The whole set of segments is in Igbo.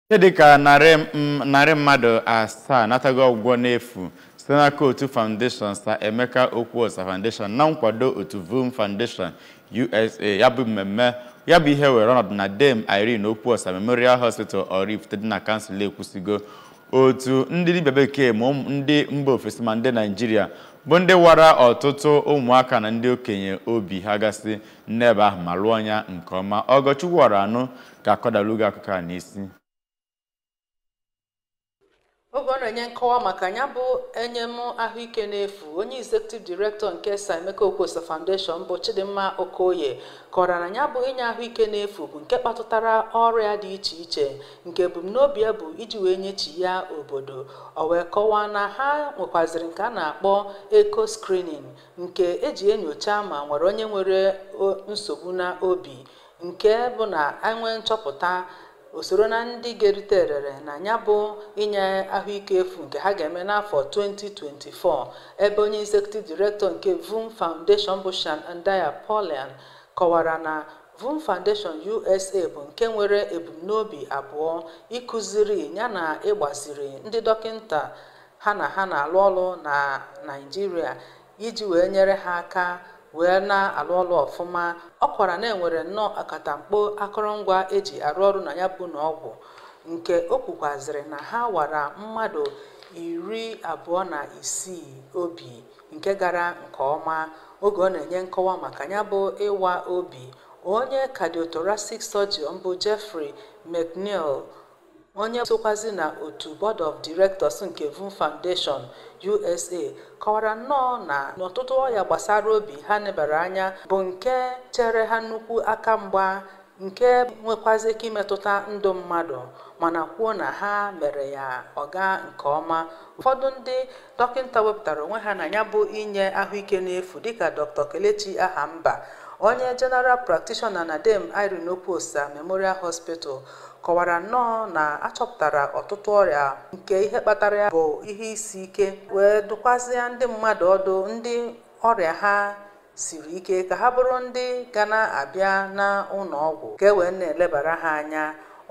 Ihe dịka narị m- narị mmadụ asaa natago ọgwụgwọ n'efu site n'aka otu Foundation Sir Emeka Okwuosa Foundation na nkwado otu VOOM Foundation USA ya bụ mmemme ya bụ ihe were ọnọdụ na Dame Irene Okwuosa Memorial Hospital Oraifite dị na kansụl Ekwusigo otu ndị dibịa bekee ma ụmụ- ndị mba ofesi ma ndị Naijiria bụ ndị wara ọtụtụ ụmụaka na ndị okenye obi ha gasị n'ebe ahụ ma lụọ ya nke ọma Ọgọchukwu Ọranụ ga-akọdalu gị akụkọ a n'isi oge ọ na-enye nkọwa maka ya bụ enyem ahụike n'efu onye executive director nke Sir Emeka Okwuosa Foundation bụ Chidimma Okoye kọrọ na ya bụ inye ahụike n'efu bụ nke kpatụtara ọrịa dị iche iche nke ebumnobi ya bụ iji wee nyechi ya obodo o wee kọwaa na ha nwekwaziri nke a na-akpọ echo screening nke eji enyocha ma e nwere onye nwere nsogbu na obi nke bụ na e nwee nchọpụta o soro na ndị ga-erite erere na ya bụ inye ahụike efu nke ha ga-eme n'afọ 2024 ebe onye executive director nke VOOM Foundation bụ Shawn Andaya-Pulliam kọwara na VOOM Foundation USA bụ nke nwere ebumnobi abụọ ịkụziri yana ịgbaziri ndị dọkịnta ha na ha na-alụ ọrụ na Naịjirịa iji wee nyere ha aka wee na-alụ ọrụ ọfụma ọ kwara na e nwere nnọọ akatamkpo akụrụngwa eji arụ ọrụ na ya bụ ụnọ ọgwụ nke o kwukwazịrị na ha wara mmadụ iri abụọ na isii obi nke gara nke ọma oge ọ na-enye nkọwa maka ya bụ ịwa obi onye cardiothoracic surgeon bụ Jeffrey McNeil onye sokwazi na otu board of directors nke VOOM Foundation USA kọwara nnọọ na ọtụtụ ọya gbasara obi ha nebara anya bụ nke chere ha nnukwu aka mgba nke nwekwazi ike imetụta ndụ mmadụ mana kwuo na ha mere ya ọ gaa nke ọma ụfọdụ ndị dọkịnta wepụtara onwe ha na ya bụ inye ahụike n'efu dịka Dr Kelechi Ahamba onye general practitioner na Dame Irene Okwuosa Memorial Hospital kọwara nnọọ na a chọpụtara ọtụtụ ọrịa nke ihe kpatara ya bụ ihe isi ike wee dụkwazịa ndị mmadụ ọdụ ndị ọrịa ha siri ike ka ha bụrụ ndị ga na-abịa n'ụnọ ọgwụ ka e wee na-elebara ha anya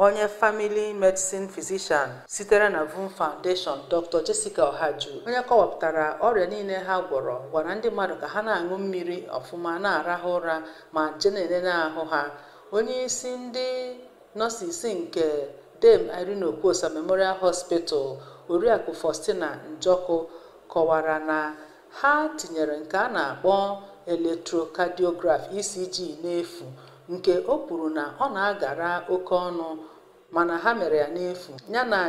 onye family medicine physician sitere na VOOM Foundation Dr. Jessica Ohaju onye kọwapụtara ọrịa niile ha gwọrọ gwara ndị mmadụ ka ha na-aṅụ mmiri ọfụma na-arahụ ụra ma je na-elele ahụ ha onye isi ndị nọsis nke Dame Irene Okwuosa Memorial Hospital oriakụ Faustina Njọkụ kọwara na Ha tinyere nke a na-akpọ electrocardiograph ECG n'efu nke o kwuru na ọ na-agara oke ọnụ mana ha mere ya n'efu yana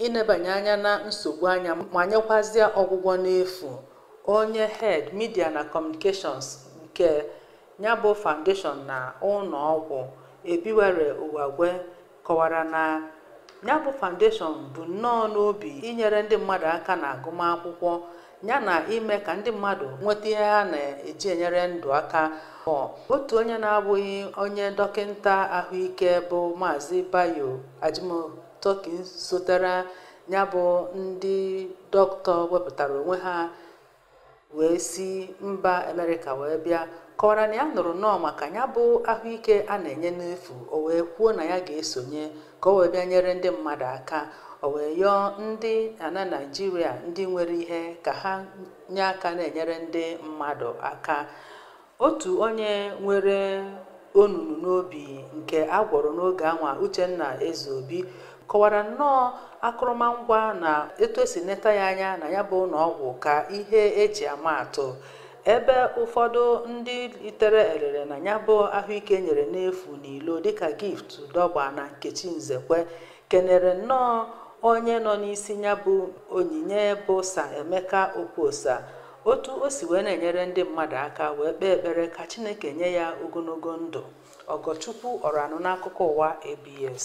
ịnebanye anya na nsogbu anya ma nyekwazịa ọgwụgwọ n'efu. Onye Head, Media na Communications nke ya bụ foundation na ụlọọgwụ, Ebiwere Uwagwe kọwara na ya bụ foundation bụ nnọọ n'obi inyere ndị mmadụ aka na agụmakwụkwọ ya na ime ka ndị mmadụ nweta ihe ha na-eji enyere ndụ aka otu onye na-abụghị onye dọkịta ahụike bụ maazị bayo ajimotokin sotere ya bụ ndị dọkịta wepụtara onwe ha wee si mba amerịka wee bịa kọwara na ya nụrụ nnọọ maka ya bụ ahụike a na-enye n'efu o wee kwuo na ya ga-esonye ka o wee bịa nyere ndị mmadụ aka o wee yọọ ndị ana naijiria ndị nwere ihe ka ha nye aka na-enyere ndị mmadụ aka otu onye nwere onunu n'obi nke a gwọrọ n'oge anwa Uchenna Ezeobi kọwara nnọọ akụrụmangwa na etu e si neta ya anya na ya bụ ụlọ ọgwụ ka ihe e ji ama atụ ebe ụfọdụ ndị litere erere na ya bụ ahụike e nyere n'efu n'ilo dịka gift dọgba na nkechi nzekwe kenere nnọọ onye nọ n'isi ya bụ onyinye bụ sir emeka okwuosa otu o si wee na-enyere ndị mmadụ aka wee kpee ekpere ka Chineke nye ya ogologo ndụ Ọgọchukwu Ọranụ n'akụkọ ụwa ABS